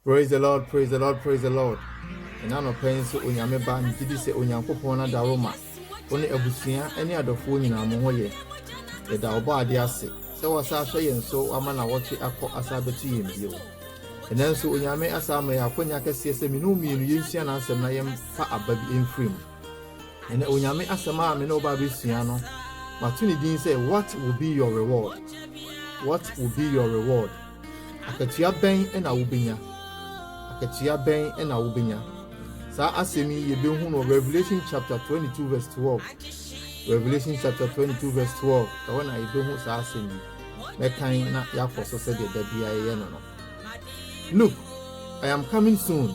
Praise the Lord praise the Lord praise the Lord Ɛna anɔpa yi nso Onyame ba megye di sɛ Onyankopɔn na daro ma wo ne abusua ne adɔfoɔ nyinaa mo ho yɛ yɛda ɔbɔadeɛ ase sɛ wasa ahwɛ yɛn so wama na wɔtwe akɔ asa abɛto yɛn bio ɛnɛ nso Onyame asa ama yɛ akwanya kɛseɛ sɛ mene wo mmienu yɛnsua n'asɛm na yɛmfa aba bi mfiri mu Ɛnnɛ, Onyame asɛm a me ne wo ba rebɛsua no, mato ne din sɛ What Will Be Your Reward? What Will Be Your Reward? Akatua bɛn na wobɛnya? Akatua bɛn na wobɛnya? Saa asɛm yi yɛbɛhu no Revelation chapter 22 verse 12. Revelation chapter 22 verse 12 ɛwɔ na yɛbɛhu saa asɛm yi. Mɛkan na yɛakɔ so sɛdeɛ da biara yɛyɛ no no. Look, I am coming soon.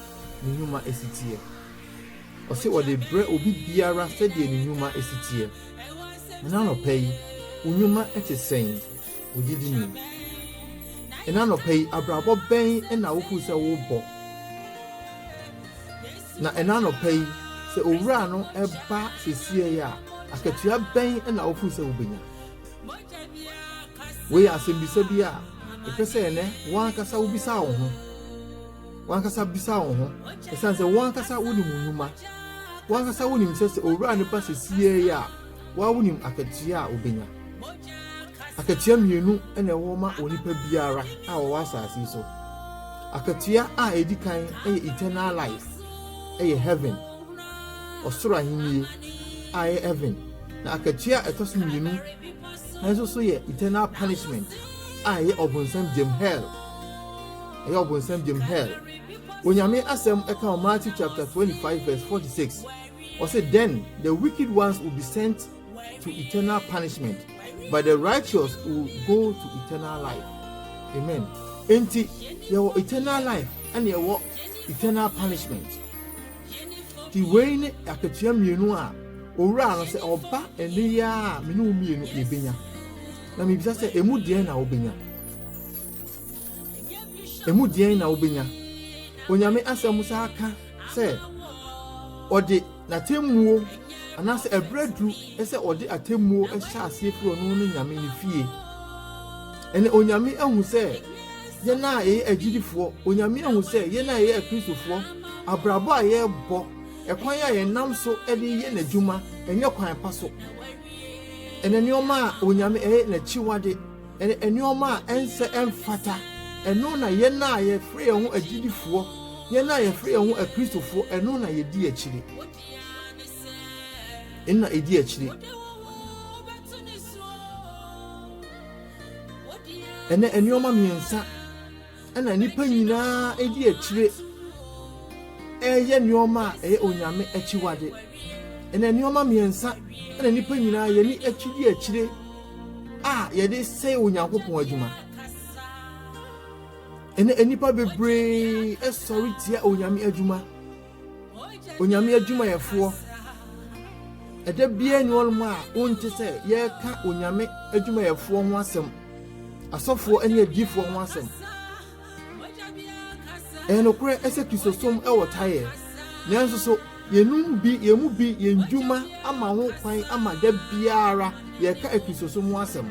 ne nnwuma si teɛ. Ɔse ɔde brɛ obi biara sɛdeɛ ne nnwuma si teɛ. Ɛna anɔpa yi, wo nnwuma te sɛn? Wo gyidi ni? Ɛna anɔpa yi, abrabɔ bɛn na wohu sɛ wobɔ? Na ɛna anɔpa yi, sɛ owura no ba sesie a, akatua bɛn na wohu sɛ wobɛnya? Wei yɛ asɛmbisa bi a ɛpɛ sɛ ɛnɛ wankasa wobisa wo ho. W'ankasa bisa wo ho, esiane sɛ wo ankasa wunim wo nnwuma. Wo ankasa wunim sɛ sɛ owura no ba seesei yi a, wo ara wunim akatua a wubenya. Akatua mmienu na ɛwɔ ma onipa biara a ɔwɔ asase yi so. Akatua a edi kan yɛ eternal life, ɛyɛ heaven, ɔsoro ahenni a ɛyɛ heaven. Na akatua a ɛtɔ so mmienu nso so yɛ eternal punishment a ɛyɛ ɔbonsam gyam hell. ɛyɛ ɔbonsam gyem hell onyame asɛm ɛka wɔ matthew chapter 25 verse 46 ɔse then the wicked ones will be sent to eternal punishment but the righteous will go to eternal life amen enti yɛwɔ eternal life ɛne ɛwɔ eternal punishment ti wei ne akatua mmienu a owura no sɛ ɔba ɛne yɛ a mene wo mmienu yɛbɛnya na mebisa sɛ ɛmu deɛ na wobɛnya Emu deɛn na wobɛnya? Onyame Asɛm saa ka sɛ ɔde n'atemmuo anaasɛ ɛberɛ aduru sɛ ɔde atemmuo hyɛ aseɛ firi ɔno ne Nyame ne fie. Ɛne Onyame ahu sɛ yɛn a yɛyɛ agyidifoɔ, Onyame ahu sɛ yɛn a yɛyɛ akristofoɔ, abrabɔ a yɛrebɔ, ɛkwan a yɛnam so de yɛ n'adwuma, ɛnyɛ kwan pa so. Ɛne nneɛma a Onyame ɛyɛ n'akyiwade. ne nneɛma a ɛnsɛ ɛmfata. Ɛno na yɛn a yɛfrɛ yɛn ho agyidifoɔ, yɛn a yɛfrɛ yɛn ho Akristofoɔ, ɛno na yɛdi akyire. Ɛno na ɛdi akyire. Ɛnɛ nneɛma mmiɛnsa na nnipa nyinaa di akyire reyɛ nneɛma a ɛyɛ onyame akyiwade. Ɛnna nneɛma mmiɛnsa na nnipa nyinaa yɛ ne akyi di akyire a yɛde sɛe Onyankopɔn adwuma. Ɛnna nnipa bebree sɔre tia onyame adwuma. Onyame adwumayɛfoɔ, ɛda biara nni hɔnom a wonte sɛ yɛreka Onyame adwumayɛfoɔ ho asɛm, asɔfoɔ ne adiifoɔ ho asɛm. Ɛyɛ nokorɛ ɛsɛ Kristosom ɛwɔ taeɛ, nanso so yɛnum bi yɛn mu bi yɛn dwuma ama ho kwan ama da biara yɛreka Kristosom ho asɛm.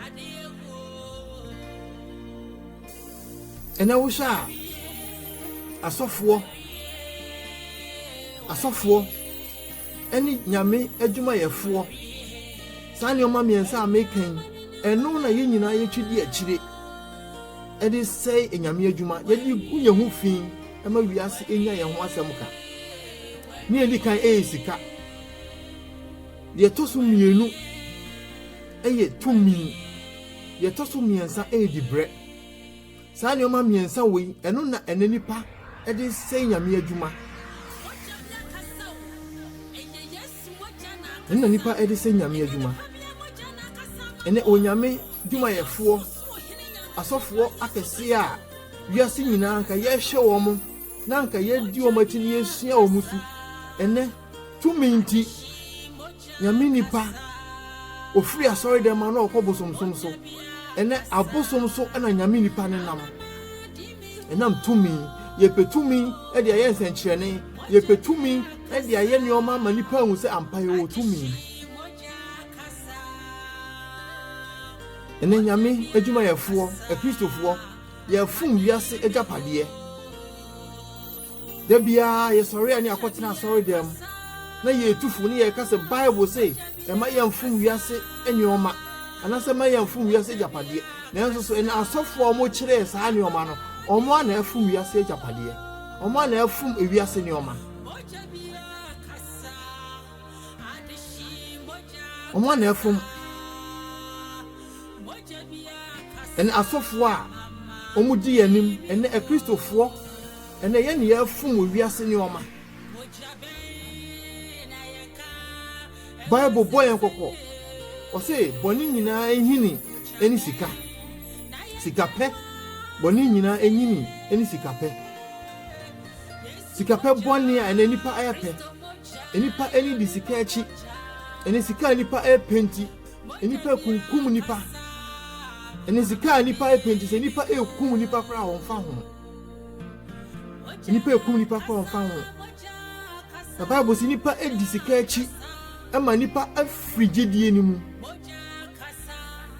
Ɛnɛ wohwɛ a, asɔfoɔ asɔfoɔ ne nyame adwumayɛfoɔ saa nneɛma mmiɛnsa a meka yi ɛno na yɛn nyinaa yɛtwi di akyire ɛde sɛe anyame adwuma yɛde gu yɛn ho fi ɛma wiase ɛnya yɛn ho asɛm ka ne ɛdi kan ɛyɛ sika deɛ ɛtɔ so mmienu ɛyɛ tumi Deɛ ɛtɔ so mmiɛnsa yɛ dibrɛ. Saa nneɛma mmiɛnsa wei, ɛno na ɛnɛ nipa de sɛe Nyame adwuma. Ɛno na nipa de sɛe Nyame adwuma. Ɛnɛ Onyame dwumayɛfoɔ, asɔfoɔ akɛseɛ a wiase nyinaa nka yɛhwɛ wɔn mo, na nka yɛdi wɔn akyi na yɛsua wɔn su. Ɛnɛ tumi nti, Nyame nipa, ɔfiri asɔre dɛm a na ɔkɔ bosomsom so, ɛnɛ abosom so na Nyame nipa no nam. Ɛnam tumi, yɛpɛ tumi de ayɛ nsɛnkyerɛnne, yɛpɛ tumi de ayɛ nneɛma ama nipa ahu sɛ ampa yɛwɔ tumi. Ɛnɛ Nyame adwumayɛfoɔ, akristofoɔ, yɛfom wiase agyapadeɛ. Da biara yɛsɔre ani akɔtena asɔredan mu na yɛretu fo ne yɛreka sɛ Bible se ɛma yɛmfom wiase nneɛma anaasɛ ɛma yɛmfom wiase agyapadeɛ. Nanso so ɛna asɔfoɔ a wɔkyerɛɛ saa nneɛma no, wɔn a na ɛfom wiase agyapadeɛ? Wɔn a na ɛfom wiase nneɛma? Wɔn a na ɛfom ɛna asɔfoɔ a wɔdi yɛn anim ɛnɛ akristofoɔ Ɛnna yɛn nneyɛe fom wiase nneɛma. Bible bɔ yɛn kɔkɔ. Ɔse bɔne nyinaa nyini ne sika. Sikapɛ, bɔne nyinaa nyini ne sikapɛ. Sikapɛ bɔne a ɛnɛ nnipa ayɛ pɛ. Nnipa ani di sika akyi. Ɛne sika a nnipa ɛpɛ nti, nnipa kunkum nnipa. Ɛne sika a nnipa ɛpɛ nti, sɛ nnipa ɛkum nnipa koraa wɔmfa ho. Nnipa ekum nnipa kora ɔmfa ho. Na Bible si nnipa edi sika akyi ma nnipa afiri gyidie no mu.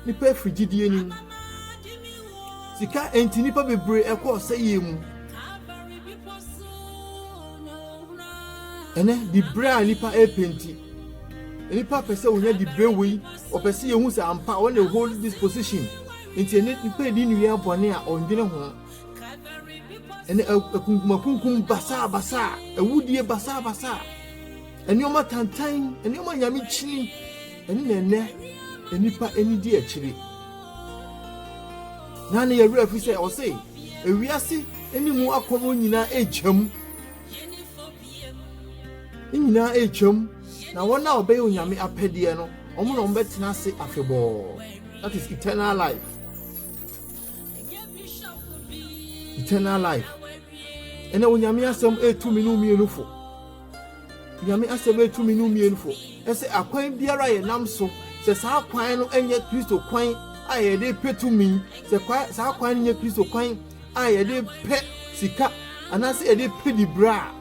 Nnipa afiri gyidie no mu. Sika enti nnipa bebree ɛkɔ ɔsɛyie mu. Ɛnɛ dibre a nnipa ɛpɛ nti. Nnipa pɛ sɛ wɔnya dibre wei. Wɔpɛ sɛ yɛhu sɛ ampa wɔn na hold this position. Enti ɛnnɛ nnipa redi nneyɛɛ bɔne a wɔndwene ho. Ɛnnɛ akunkumakunkum basaabasaa, awudie basaabasaa, nneɛma tantan, nneɛma nyamekyini, ɛno na ɛnnɛ nnipa ani di akyire. Na ne yɛwerɛ afi sɛ ɔse ewiase ne mu akɔnnɔ nyinaa agyam. Ne nyinaa retwam, na wɔn a wɔbɛyɛ Onyame apɛdeɛ no, wɔn na wɔbɛtena ase afebɔɔ. That is eternal life. Eternal life. Ɛnna Onyame asɛm etu mmienu mmienu fo. Onyame asɛm etu mmienu mmienu fo. Ɛsɛ akwan biara yɛ nam so sɛ saa kwan no nyɛ Kristo kwan a yɛde pɛ tumi sɛ saa kwan no nyɛ Kristo kwan a yɛde pɛ sika anaasɛ yɛde pɛ dibere a,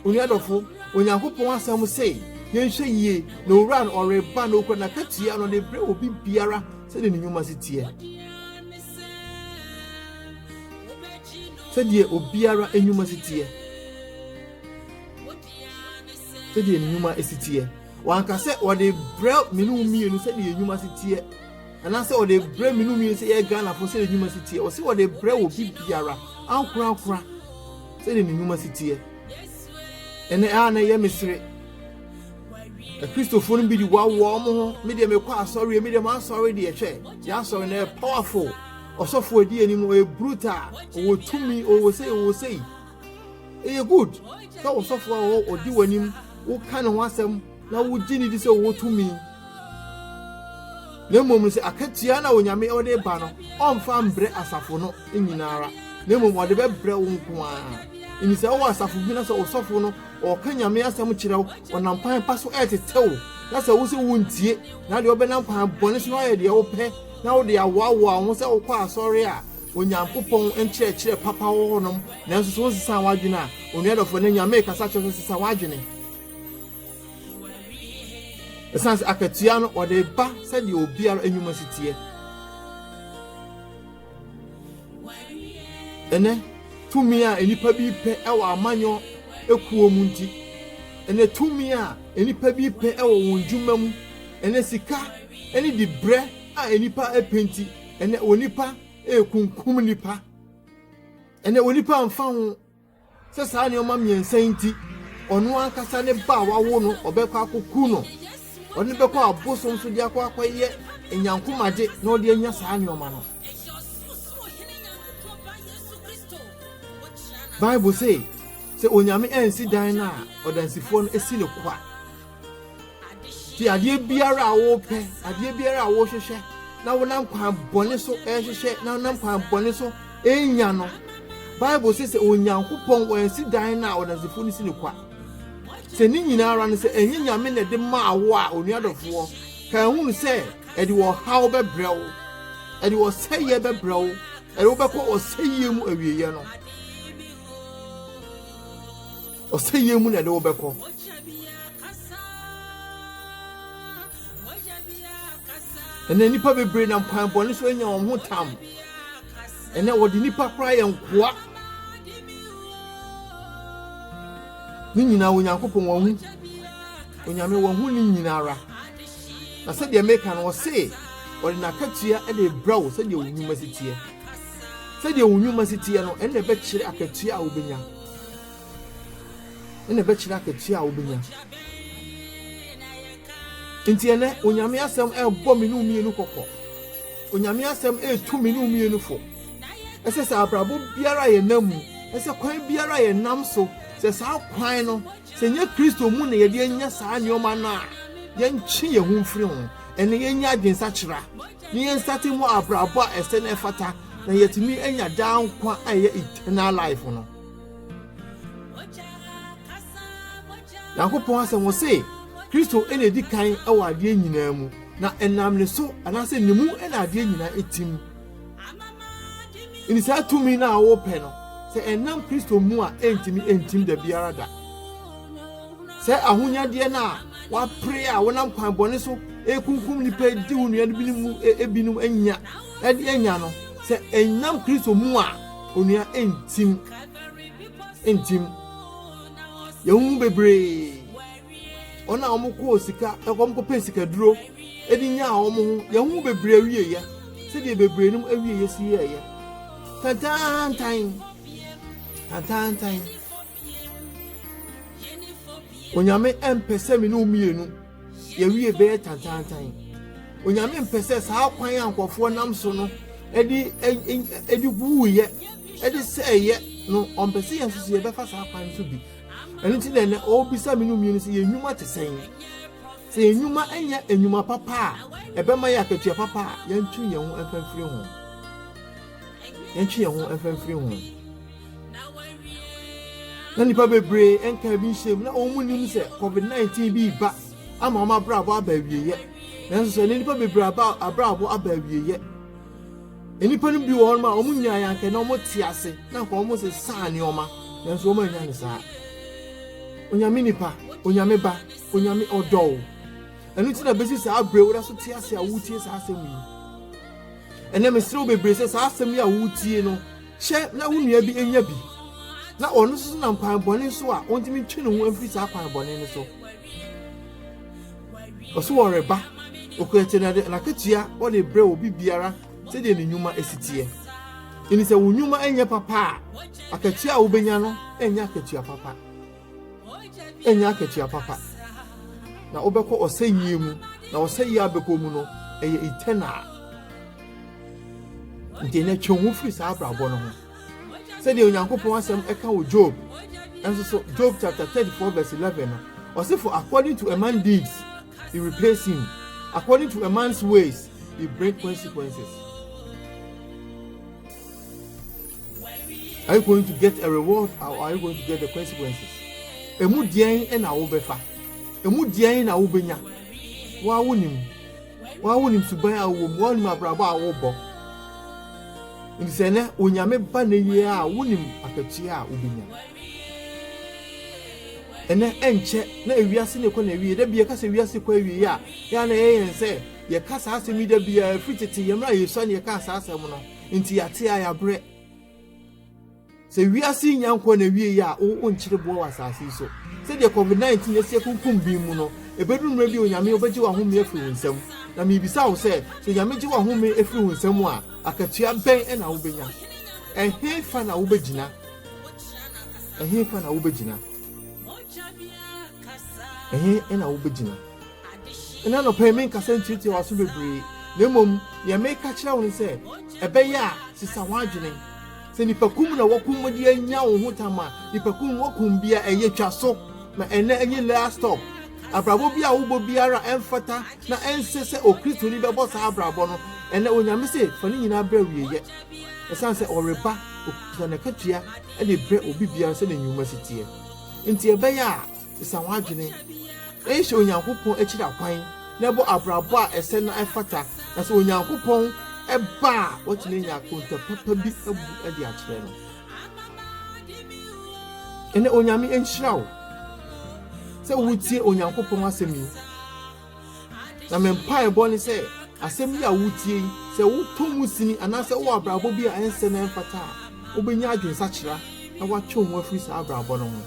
onua dɔfo, Onyankopɔn Asɛm se, Yɛnhwɛ yie, na Owura no ɔreba na okura n'akatua na ɔde brɛ obi biara sɛdeɛ ne nnwuma si teɛ. Sɛdeɛ obiara nnwuma si teɛ. Sɛdeɛ ne nnwuma si teɛ. Wanka sɛ ɔde brɛ me ne wo mmienu sɛdeɛ nnwuma si teɛ. anaasɛ ɔde brɛ me no mmienu sɛ yɛ Ghanafoɔ sɛdeɛ nnwuma si teɛ ɔse ɔde brɛ wɔ bibiara ankorankora sɛdeɛ ne nnwuma si teɛ ɛnɛ a na ɛyɛ mesere akristofoɔ no bi de wawoa wɔn ho me deɛ mekɔ asɔre me deɛ maasɔre deɛ hwɛ yɛ asɔre na ɛyɛ powerful ɔsɔfoɔ adi anim no ɔyɛ brutal ɔwɔ tumi ɔwɔ sei ɔwɔ sei ɛyɛ good sɛ ɔsɔfoɔ a ɔdi w'anim woka ne ho asɛm na wogye no di sɛ wɔwɔ tumi, na mmom sɛ akatua na Onyame ɔde ba no, ɔmfa mbrɛ asafo no nyinaa ara, na mmom ɔde bɛbrɛ wo nko ara. Ɛni sɛ wowɔ asafo bi na sɛ ɔsɔfo no ɔka Nyame asɛm kyerɛ wo, ɔnam kwan pa so ɛretete wo, na sɛ wo sɛ wontie, na deɛ ɔbɛnam kwan bɔne so ayɛ deɛ wopɛ, na wode awoawoa wo ho sɛ wokɔ asɔre a Onyankopɔn nkyerɛkyerɛ papa wɔ hɔnom, nanso sɛ wonsesa w'adwene a, onuadɔfo, ɛnɛ Nyame rekasa kyerɛ sɛ sesa w'adwene. ɛsiane sɛ akatua no wɔde ba sɛdeɛ obiara nnwuma si teɛ ɛnɛ tumi a nnipa bi pɛ wɔ amanyɔ ekuo mu nti ɛnɛ tumi a nnipa bi pɛ wɔ wɔn dwuma mu ɛnɛ sika ɛne de brɛ a nnipa pɛ nti ɛnɛ onipa ekunkum nipa ɛnɛ onipa nfa ho. Sɛ saa nneɛma mmiɛnsa yi nti, ɔno ankasa ne ba a wawo no, ɔbɛkɔ akoku no. Ɔde no bɛkɔ abosom so de akɔ akɔyɛ nyankomagye na ɔde anya saa nneɛma no. Bible se, sɛ Onyame ansi dan no a, ɔdansifoɔ no si no kwa. Ti adeɛ biara a wopɛ, adeɛ biara a wohwehwɛ na wonam kwan bɔne so ɛrehwehwɛ na wonam kwan bɔne so ɛrenya no. Bible sɛ sɛ Onyankopɔn wansi dan no a ɔdansefo no si no kwa. Sɛ ne nyinara no sɛ ɛnyɛ Nyame na ɛde maa wo a onuadɔfoɔ, ka hunu sɛ ɛde ɔhaw bɛbrɛ wo, ɛde ɔsɛeɛ bɛbrɛ wo, ɛde wobɛkɔ ɔsɛeɛ mu awieɛ no. Ɔsɛeɛ mu na yɛde wo bɛkɔ. Ɛnɛ nnipa bebree nam kwan bɔne so anya wɔn ho tam. Ɛnɛ wɔde nnipa koraa yɛ nkoa. Ne nyinaa Onyankopɔn wɔn ho. Onyame wɔn ho ne nyinaa ara. Na sɛdeɛ meka no ɔse ɔde n'akatua de brɛ wo sɛdeɛ wo nnwuma si teɛ. Sɛdeɛ wo nnwuma si teɛ no ɛnna ɛbɛkyerɛ akatua a wobɛnya. na ɛbɛkyerɛ akatua a wobenya. Enti ɛnɛ, Onyame Asɛm ɛrebɔ me ne wo mmienu kɔkɔ. Onyame Asɛm ɛretu me ne wo mmienu fo. Ɛsɛ sɛ abrabɔ biara a yɛnam mu, ɛsɛ kwan biara a yɛnam so, sɛ saa kwan no, sɛ ɛnyɛ Kristo mu na yɛde anya saa nneɛma no a, yɛntwe yɛn ho mfiri ho. Ɛnɛ yɛnya adwensakyera na yɛnsate mmɔ abrabɔ a ɛsɛ na ɛfata na yɛatumi anya daa nkwa a ɛyɛ eternal life no. nyankopɔn asɛm wɔ se kristo na edi kan wɔ adeɛ nyinaa mu na ɛnam ne so anaasɛ ne mu na adeɛ nyinaa ɛtim nti saa tumi no a wopɛ no sɛ ɛnam kristo mu a ɛntimi ɛntim da biara da sɛ ahonyadeɛ no a wapere a wonam kwan bɔne so ɛkunkum nipa di wo nnuane binom mu ebinom anya ɛde anya no sɛ ɛnam kristo mu a Onua ntim ntim yɛn ho bebree wɔn a wɔn kɔɔ sika wɔn kɔpɛ sikaduro ɛde nyaa wɔn ho yɛn ho bebree awie yɛ sɛdeɛ bebree nom awie yɛ si yɛ yɛ tantantan tantantan. onyame ɛmpɛ sɛ me ne wo mmienu yɛwie bɛyɛ tantantan onyame mpɛ sɛ saa kwan a nkurɔfoɔ nam so no ɛde ɛde wuuyɛ ɛde sɛɛyɛ no ɔmpɛ sɛ yɛn nso so yɛbɛfa saa kwan so bi ɛno nti na ɛnɛ ɔrebisa me ne mmienu sɛ yɛn nnwuma te sɛn sɛ yɛn nnwuma nyɛ nnwuma papa a ɛbɛma yɛ akatua papa a yɛntwe yɛn ho mfamfiri ho yɛntwe yɛn ho mfamfiri ho na nnipa bebree nkaa bi nhyɛm na wɔn mu nim sɛ covid-19 bi reba ama wɔn abrabɔ aba awieyɛ nanso sɛ ne nnipa bebree aba abrabɔ aba awieyɛ nnipa no bi wɔ hɔ a wɔn nyinaa yɛ anka na wɔn te ase na nka wɔn sɛ saa nneɛma nanso wɔn anya ne saa onyame nipa onyame ba onyame ɔdɔw ɛno nti na bɛsi saa berɛ woda so te ase a wotie saa asɛm yi ɛnɛ mesrɛ wo bebree sɛ saa asɛm yi a wotie no Hyɛ na wo nua bi nya bi, na ɔno nso nam kwan bɔne so a ɔntumi ntwe ne ho mfiri saa kwan bɔne no so. Ɔso ɔreba, okura kyɛ na n'akatua ɔde brɛ obi biara sɛdeɛ ne nnwuma si teɛ. Ɛni sɛ wo nnwuma nyɛ papa a, akatua a wobɛnya no nyɛ akatua papa. ɛnyɛ akatua papa, na wobɛkɔ ɔsɛyie mu, na ɔsɛyie a bɛkɔ mu no, ɛyɛ eternal. Nti ɛnɛ twe ho firi saa abrabɔ no ho. Sɛdeɛ Onyankopɔn asɛm ɛka wɔ Job, ɛnso so Job chapter 34 verse 11 no, ɔse for according to a man deeds, he repays him. According to a man's ways, he bring consequences. are you going to get a reward or are you going to get the consequences emu deɛn na wobɛfa emu deɛn na wobɛnya waa wonim waa wonim suban a wowɔ mu waa wonim abrabɔ a wobɔ nti sɛ nɛ onyame ba ne yie a wonim akatua a wobɛnya ɛnɛ ɛnkyɛ na ewiase ne kɔ na ewie da bia kasa ewiase kɔ ewie a yɛa na ɛyɛ yɛn sɛ yɛka saa asɛm yi da bia ɛfiri tete yɛmmerɛ a yɛsua ne yɛka saa asɛm no Nti yɛate a yɛabrɛ. Sɛ wiase yi nya nkɔ n'awieeɛ a, wo wonkyere boɔ wɔ asase yi so. Sɛdeɛ COVID-19 asi akunkum bi mu no, ɛbɛduru mmerɛ bi a Onyame wobɛgye w'ahome afiri wo nsam. Na merebisa wo sɛ, sɛ Onyame gye w'ahome firi wo nsam a, akatua bɛn na wobɛnya? Ɛhefa na wobɛgyina? Ɛhefa na wobɛgyina? Ɛhe na wobɛgyina? Ɛnnɛ anɔpa yi menkasa ntiatia w'aso bebree, na mmom nea mereka akyerɛ wo ne sɛ, ɛbɛyɛ a sesa w'adwene. Sɛ nnipakum na wɔkum de anya wo ho tam a, nnipakum wɔkum biara ɛyɛ twa so, na ɛnnɛ ɛnyɛ last stop. Abrabɔ bi a wobɔ biara ɛmfata na ɛnsɛ sɛ Okristoni bɛbɔ saa abrabɔ no. Ɛnnɛ Onyame se fa ne nyinaa brɛ awieyɛ, ɛsiane sɛ ɔreba, okita n'akatua de brɛ obi biara sɛnea nnwuma si teɛ. Enti ɛbɛyɛ a. Sesa w'adwene. Nhwɛ Onyankopɔn akyiri akwan na bɔ abrabɔ a ɛsɛ na ɛfata, na sɛ Onyankopɔn ba a, woatumi anya akonta papa bi abu de akyerɛ no. Ɛnɛ Onyame nhyira wo sɛ wotie Onyankopɔn asɛm yi. Na me mpaebɔ ne sɛ asɛm yi a wutie yi, sɛ wotɔ mu sini anaasɛ wowɔ abrabɔ bi a ɛnsɛ na ɛmfata a, wobɛnya adwensakyera na woatwe wo ho afiri saa abrabɔ no ho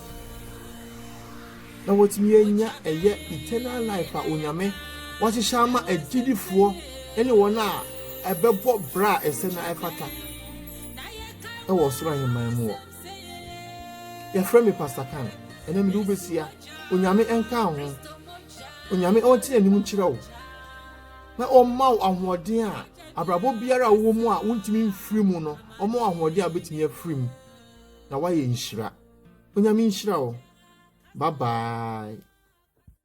na woatumi anya ɛyɛ eternal life a Onyame wahyehyɛ ama agyidifoɔ ne wɔn a ɛbɛbɔ bra a ɛsɛ na ɛfata ɛwɔ ɔsoro ahemman mu wɔ. Yɛfrɛ me Pastor Kan, ɛnɛ mede wobɛsia. Onyame nka ho. Onyame ɔnte anim nkyerɛ wo na ɔmma wo ahoɔden a abrabɔ biara a wowɔ mu a wontumi mfiri mu no ɔma wo ahoɔden a wobɛtumi afiri mu na woayɛ nhyira. Onyame nhyira wo. Bye bye.